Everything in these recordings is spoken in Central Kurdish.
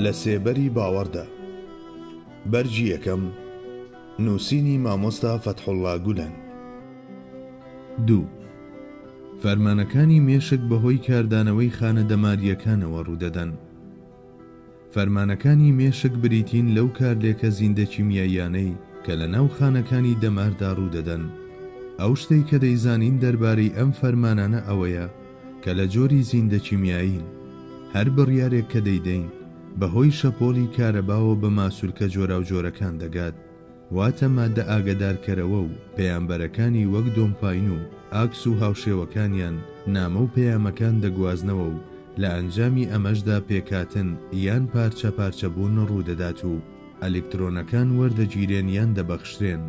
لە سێبەری باوەڕدا بەرگی یەکەم نووسینی مامۆستا فەتحوڵا گولەن دوو فەرمانەکانی مێشک بەهۆی کاردانەوەی خانە دەمارییەکانەوە ڕوودەدەن. فەرمانەکانی مێشک بریتین لەو کارلێکە زیندەکیمیاییانەی کە لە ناو خانەکانی دەماردا ڕوودەدەن. ئەو شتەی کە دەیزانین دەربارەی ئەم فەرمانانە ئەوەیە کە لە جۆری زیندەکیمیایین. هەر بڕیارێک کە دەیدەین بەهۆی شەپۆڵی کارەباوە بە ماسولکە جۆراوجۆرەکان دەگات. واتە ماددە ئاگەدارکەرەوە و پەیامبەرەکانی وەک دۆمپاین و ئاکس و هاوشێوەکانیان نامە و پەیامەکان دەگوازنەوە و لە ئەنجامی ئەمەشدا پێکهاتن یان پارچە پارچە بوون ڕوودەدات و ئەلیکترۆنەکان وەردەگیرێن یان دەبەخشرێن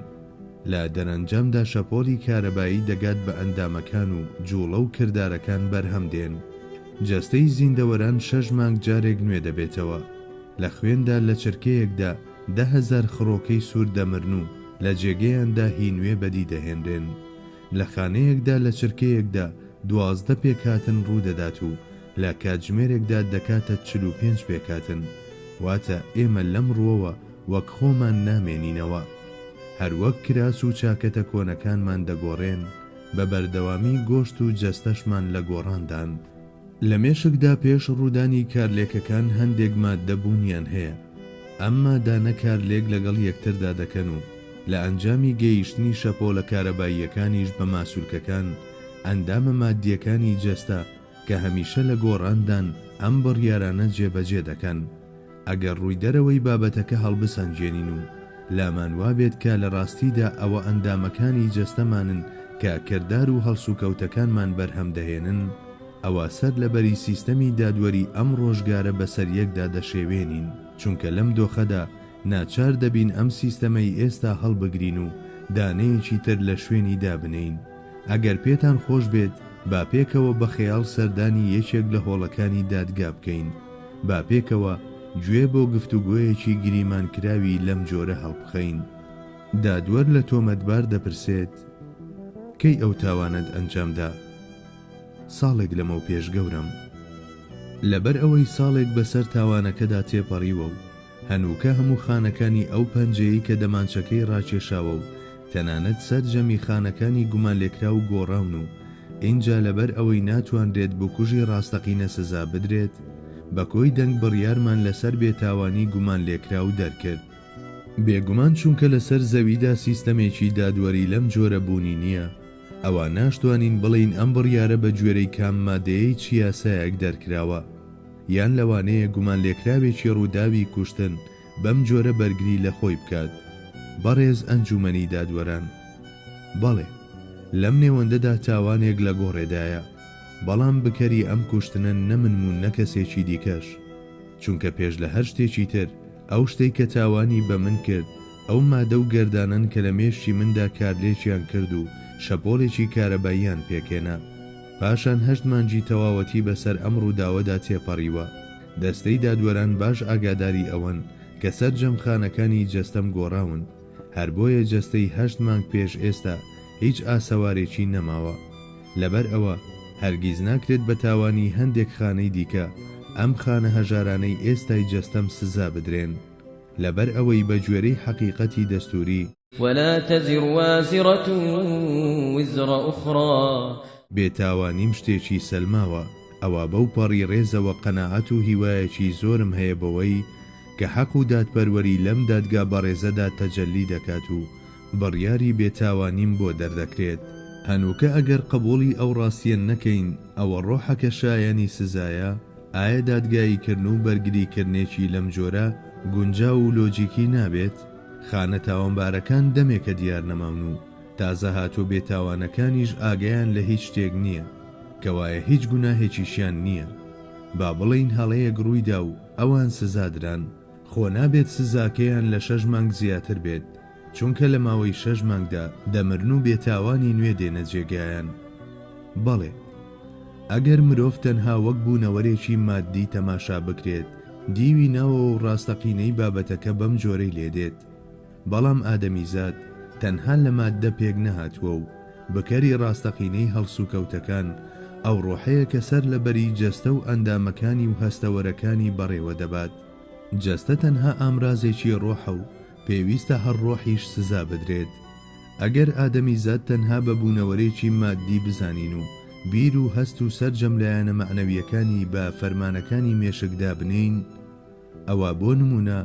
لە دەرەنجامدا شەپۆلی کارەبایی دەگات بە ئەندامەکان و جوڵە و کردارەکان بەرهەم دێن جەستەی زیندەوەران شەش مانگ جارێک نوێ دەبێتەوە لە خوێندا لە چرکەیەکدا دە هەزار خڕۆکەی سوور دەمرن و لە جێگەیاندا هی نوێ بەدی دەهێنرێن. لە خانەیەکدا لە چرکەیەکدا دوازدە پێکهاتن ڕوو دەدات و لە کاتژمێرێکدا دەکاتە چل و پێنج پێکهاتن، واتە ئێمە لەم ڕووەوە وەک خۆمان نامێنینەوە. هەر وەک کراس و چاکەتە کۆنەکانمان دەگۆڕێن، بە بەردەوامی گۆشت و جەستەشمان لە گۆڕاندان. لە مێشکدا پێش ڕوودانی کارلێکەکان هەندێک ماددە بوونیان هەیە، ئەم مادانە کارلێک لەگەڵ یەکتردا دەکەن و لە ئەنجامی گەیشتنی شەپۆلە کارەباییەکانیش بە ماسولکەکان، ئەندامە ماددییەکانی جەستە کە هەمیشە لە گۆڕاندان، ئەم بڕیارانە جێبەجێ دەکەن. ئەگەر ڕووی دەرەوەی بابەتەکە هەڵبسەنگێنین و لامان وابێت کە لە ڕاستیدا ئەوە ئەندامەکانی جەستەمانن کە کردار و هەڵسوکەوتەکانمان بەرهەم دەهێنن، ئەوا سەر لەبەری سیستەمی دادوەری ئەم ڕۆژگارە بەسەر یەکدا دەشێوێنین، چونکە لەم دۆخەدا ناچار دەبین ئەم سیستەمەی ئێستا هەڵبگرین و دانەیەکی تر لە شوێنی دابنێین. ئەگەر پێتان خۆش بێت با پێکەوە بە خەیاڵ سەردانی یەکێک لە هۆڵەکانی دادگا بکەین. با پێکەوە گوێ بۆ گفتوگۆیەکی گریمانکراوی لەم جۆرە هەڵبخەین، دادوەر لە تۆمەتبار دەپرسێت، کەی ئەو تاوانەت ئەنجامدا؟ ساڵێک لەمەوپێش گەورەم. لەبەر ئەوەی ساڵێک بەسەر تاوانەکەدا تێپەڕیوە و هەنووکە هەموو خانەکانی ئەو پەنجەیەی کە دەمانچەکەی ڕاکێشاوە و تەنانەت سەرجەمی خانەکانی گومانلێکراو گۆڕاون و ئینجا لەبەر ئەوەی ناتوانرێت بکوژی ڕاستەقینە سزا بدرێت، بە کۆی دەنگ بڕیارمان لەسەر بێتاوانی گومانلێکراو دەرکرد. بێگومان چونکە لەسەر زەویدا سیستەمێکی دادوەری لەم جۆرە بوونی نییە، ئەوا ناشتوانین بڵێین ئەم بڕیارە بە گوێرەی کام مادەیەی چ یاسایەک دەرکراوە. یان لەوانەیە گومانلێکراوێکی ڕووداوی کوشتن بەم جۆرە بەرگری لە خۆی بکات. بەڕێز ئەنجوومەنی دادوەران، بەڵێ، لەم نێوەندەدا تاوانێک لە گۆڕێدایە، بەڵام بکەری ئەم کوشتنە نە منم و نە کەسێکی دیکەش، چونکە پێش لە هەر شتێکی تر، ئەو شتەی کە تاوانی بە من کرد، ئەو مادە و گەردانەن کە لە مێشکی مندا کارلێکیان کرد و شەپۆڵێکی کارەباییان پێکهێنا. پاشان هەشت مانگی تەواوەتی بەسەر ئەم ڕووداوەدا تێپەڕیوە، دەستەی دادوەران باش ئاگاداری ئەوەن کە سەرجەم خانەکانی جەستەم گۆڕاون، هەر بۆیە جەستەی هەشت مانگ پێش ئێستا هیچ ئاسەوارێکی نەماوە. لەبەر ئەوە هەرگیز ناکرێت بە تاوانی هەندێک خانەی دیکە ئەم خانە هەژارانەی ئێستای جەستەم سزا بدرێن لەبەر ئەوەی بە گوێرەی حەقیقەتی دەستووری، ولا تزر وازرة وزر اخرى بێتاوانیم شتێکی سەلماوە، ئەوە بەو پەڕی ڕێزەوە قەناعەت و هیوایەکی زۆرم هەیە بەوەی کە حەق و دادپەروەری لەم دادگا بەڕێزەدا تەجەلی دەکات و بڕیاری بێتاوانیم بۆ دەردەکرێت. هەنووکە ئەگەر قبوڵی ئەو ڕاستیە نەکەین ئەوە ڕۆحەکە شایەنی سزایە؟ ئایا دادگاییکردن و بەرگریکردنێکی لەم جۆرە گونجاو و لۆجیکی نابێت؟ خانە تاوانبارەکان دەمێکە دیار نەماون و تازە هاتوو بێ تاوانەکانیش ئاگایان لە هیچ شتێک نییە کەوایە هیچ گوناهێکیشیان نییە با بڵێین هەڵەیەک ڕوویدا و ئەوان سزادران خۆ نابێت سزاکەیان لە شەش مانگ زیاتر بێت چونکە لە ماوەی شەش مانگدا دەمرن و بێتاوانی نوێ دێنە جێگایان بەڵێ ئەگەر مرۆڤ تەنها وەک بوونەوەرێکی ماددی تەماشا بکرێت دیوی ناوەوە و ڕاستەقینەی بابەتەکە بەم جۆرەی لێ دێت، بەڵام ئادەمیزاد تەنها لە ماددە پێک نەهاتووە و بکەری ڕاستەقینەی هەڵسوکەوتەکان ئەو ڕۆحەیە کە سەر لە بەری جەستە و ئەندامەکانی و هەستەوەرەکانی بەڕێوە دەبات. جەستە تەنها ئامرازێکی ڕۆحە و پێویستە هەر ڕۆحیش سزا بدرێت. ئەگەر ئادەمیزاد تەنها بە بوونەوەرێکی ماددی بزانین و بیر و هەست و سەرجەم لایەنە مەعنەوییەکانی بە فەرمانەکانی مێشک دابنێین، ئەوا بۆ نموونە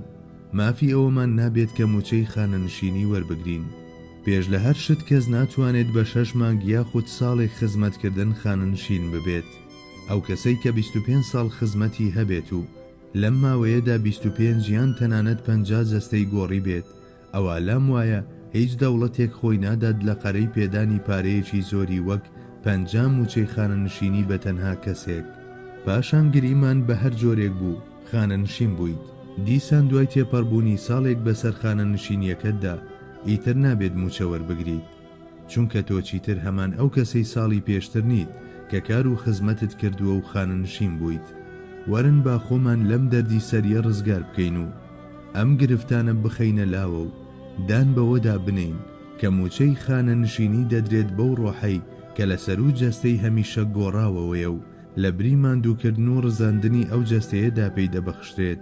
مافی ئەوەمان نابێت کە مووچەی خانەنشینی وەربگرین. پێش لە هەر شت کەس ناتوانێت بە شەش مانگ یاخود ساڵێک خزمەتکردن خانەنشین ببێت. ئەو کەسەی کە بیست و پێنج ساڵ خزمەتی هەبێت و لەم ماوەیەدا بیست و پێنج یان تەنانەت پەنجا جەستەی گۆڕیبێت، ئەوا لام وایە هیچ دەوڵەتێک خۆی نادات لە قەرەی پێدانی پارەیەکی زۆری وەک پەنجا مووچەی خانەنشینی بە تەنها کەسێک. پاشان گریمان بە هەر جۆرێک بوو، خانەنشین بوویت، دیسان دوای تێپەڕبوونی ساڵێک بەسەر خانەنشینییەکەتدا، ئیتر نابێت مووچە وەربگریت. چونکە تۆ چیتر هەمان ئەو کەسەی ساڵی پێشتر نیت کە کار و خزمەتت کردووە و خانەنشین بوویت. وەرن با خۆمان لەم دەردی سەریە ڕزگار بکەین و ئەم گرفتانە بخەینە لاوە و دان بەوەدا بنێین کە مووچەی خانەنشینی دەدرێت بەو ڕۆحەی کە لە سەروو جەستەی هەمیشە گۆڕاوەوەیە و لە بری ماندووکردن و ڕزاندنی ئەو جەستەیەدا پێی دەبەخشرێت